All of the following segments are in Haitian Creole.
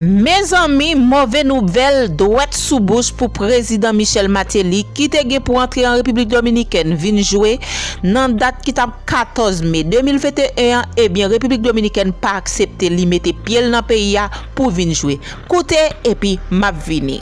Mezanmi move nouvèl dwèt sou bouch pou prezidan Michel Martelly ki te gen pou antre an Repiblik Dominikèn vin jwe nan dat ki tap 14 me 2021 an ebyen Repiblik Dominikèn pa aksepte li mete pyel nan peyi a pou vin jwe. Koute epi map vini.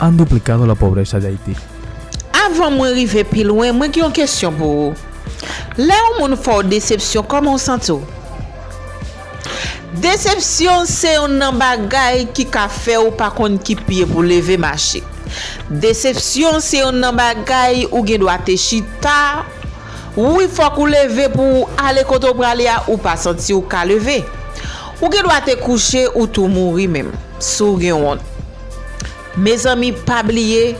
An duplicado la pobreza de Haiti. Avan mwen rive pi lwen mwen gen yon kesyon pou ou. Lè yon moun fè w desepsyon kòman w santi w? Desepsyon se yon nan bagay ki ka fè w pa konn ki pye pou leve mache. Desepsyon se yon nan bagay ou gen dwa te chita wi fòk ou leve pou w ale kote w prale a ou pa santi w ka leve. Ou gen dwa te kouche ou tou mouri menm si w gen wont. Mezanmi pa bliye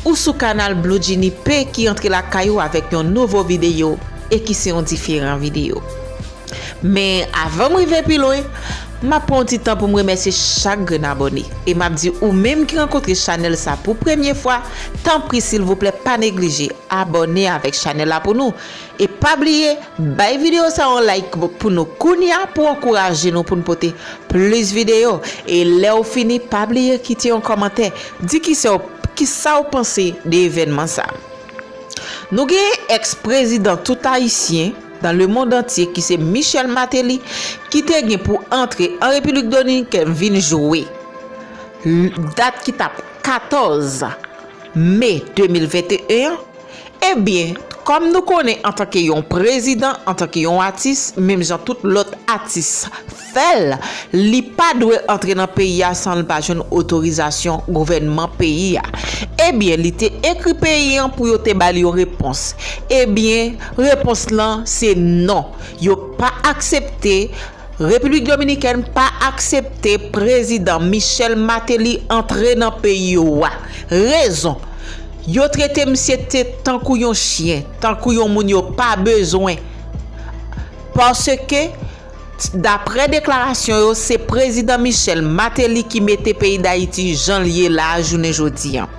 ou sou kanal Bloudjinipe ki antre lakay ou avèk yon nouvo videyo e ki se yon diferan videyo. Men avanm rive pi lwen map pran yon ti tan poum remèsye chak grenn abòne e map di ou menm ki rankontre chanèl sa pou premye fwa tanpri silvouplè pa neglije abòne avèk chanèl la pou nou E pa bliye bay video sa yon like pou nou kounya pou ankouraje nou poun pote plis video e lèw fini pa bliye kite yon kòmantè di kisew kisaw panse de evènman sa Nou gen ex prezidan tout ayisyen dan le mond antye kise Michel Martelly kite gen pou antre an Repilik Dominikèn vin jwe dat ki tap 14 Me 2021 an. Ebyen, kòm nou konnen antanke yon prezidan, antanke yon atis, menm jan tout lòt atis fè l, li pa dwe antre nan peyi a san l pa jwenn otorizasyon gouvènman peyi a. Ebyen, li te ekri peyi an pou yo te ba l yon repons. Ebyen, repons lan se non, yo pa aksepte. Repiblik Dominikèn pa aksepte Prezidan Michel Martelly antre nan peyi yo a. Rezon, Yo trete misye te tankou yon chyen, tankou yon moun yo pa bezwen. Paske, daprè deklarasyon yo, se Prezidan Michel Martelly ki mete peyi Dayiti jan l ye la a jounen jodi an.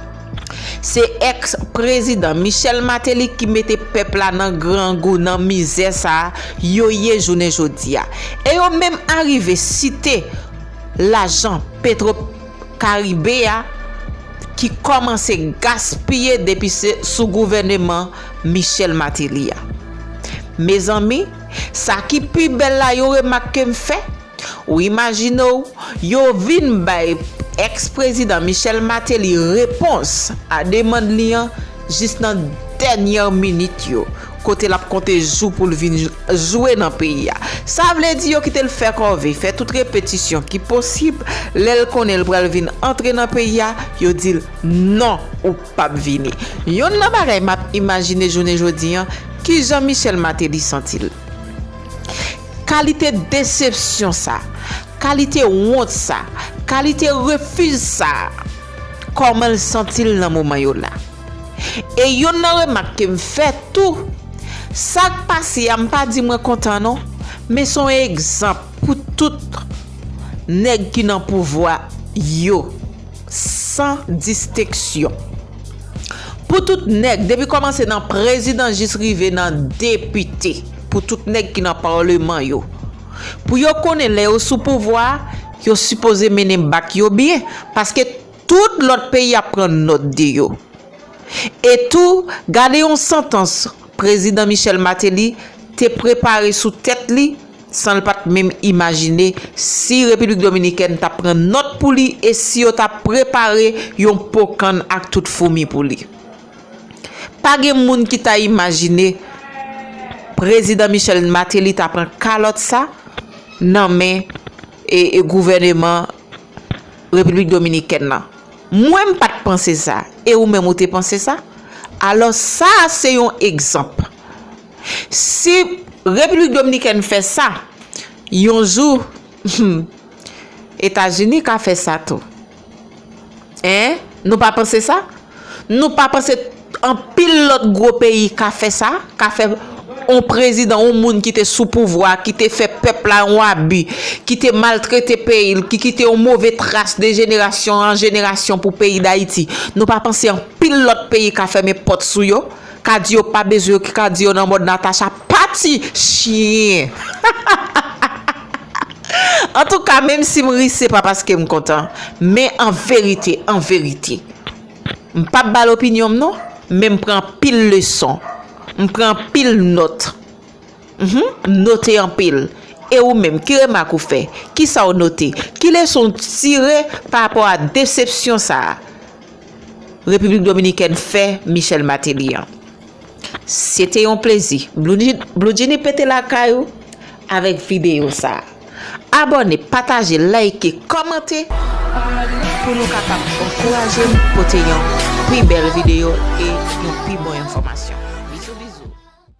Se ex prezidan Michel Mateli ki mete pèp la nan grangou nan mizè sa yo ye jounen jodi a. E yo menm arive site lajan petro karibe a ki kòmanse gaspiye depi se sou gouvèneman Michel Mateli a. Mezanmi sa ki pi bèl la yon remak kem fè. Ou imajine w, yo vin bay èks prezidan Michel Martelly repons a demand li an jis nan dènyè minit yo, kote l ap konte jou pou l vin jwe nan peyi a. Sa vle di yo kite l fè kòve, fè tout repetisyon ki posib, lè l konnen l pral vin antre nan peyi a, yo di l, non, ou p ap vini. Yonn nan bagay m ap imajine jounen jodi an, kijan Michel Martelly santi l? Kalite desepsyon sa, kalite wont sa, kalite refiz sa, kòman l santi l nan moman yo la? E yonn nan remak ke m fè tou, sa k pase a m pa di mwen kontan non, men s on egzanp pou tout nèg ki nan pouvwa yo. san disteksyon. Pou tout nèg, depi kòmanse nan prezidan jis rive nan depite, pou tout nèg ki nan paleman yo. Pou yo konnen lè yo sou pouvwa, yo sipoze mennen bak yo byen, paske tout lòt peyi ap pran nòt de yo. E tou, gade yon santans prezidan Michel Martelly te prepare sou tèt li san l pa t menm imajine si Repiblik Dominikèn t ap pran nòt pou li e si yo t ap prepare yon po kann ak tout foumi pou li. Pa gen moun ki ta imajine Prezidan Michel Martelly ta pran kalòt sa nan men gouvèneman Repiblik Dominikèn lan. Mwen m pa t panse sa, e ou menm ou te panse sa? Alò sa a se yon egzanp. Si Repiblik Dominikèn fè sa, yon jou, humm, Etazini ka fè sa tou. Hein? Nou pa panse sa? Nou pa panse anpil lòt gwo peyi ka fè sa, ka fè yon prezidan, yon moun ki te sou pouvwa, ki te fè pèp la yon abi, ki te maltrete peyi l, ki kite yon move tras de jenerasyon an jenerasyon pou peyi Dayiti, nou pa panse anpil lòt peyi ka fèmen pòt sou yo? Cadio pa bezwen ki cadio nan mòd Natacha pati chyen hahahaha antouka menm sim ri sepa paskem kontan men anverite anverite mpap bal opinyonm non men mpran anpil leson mpran anpil nòt humm mnote anpil e ou menm ki remak ou fè kisaw note ki leson ou tire parapò a desepsyon sa. Repiblik Dominikèn fè Michel Martelly an. Se te yon plezi. Bloudjini pete lakay ou avèk videyo sa. Abòne, pataje, layke, kòmante pou nou kapab ankouraje m pote yon pi bèl videyo e yon pi bon enfòmasyon.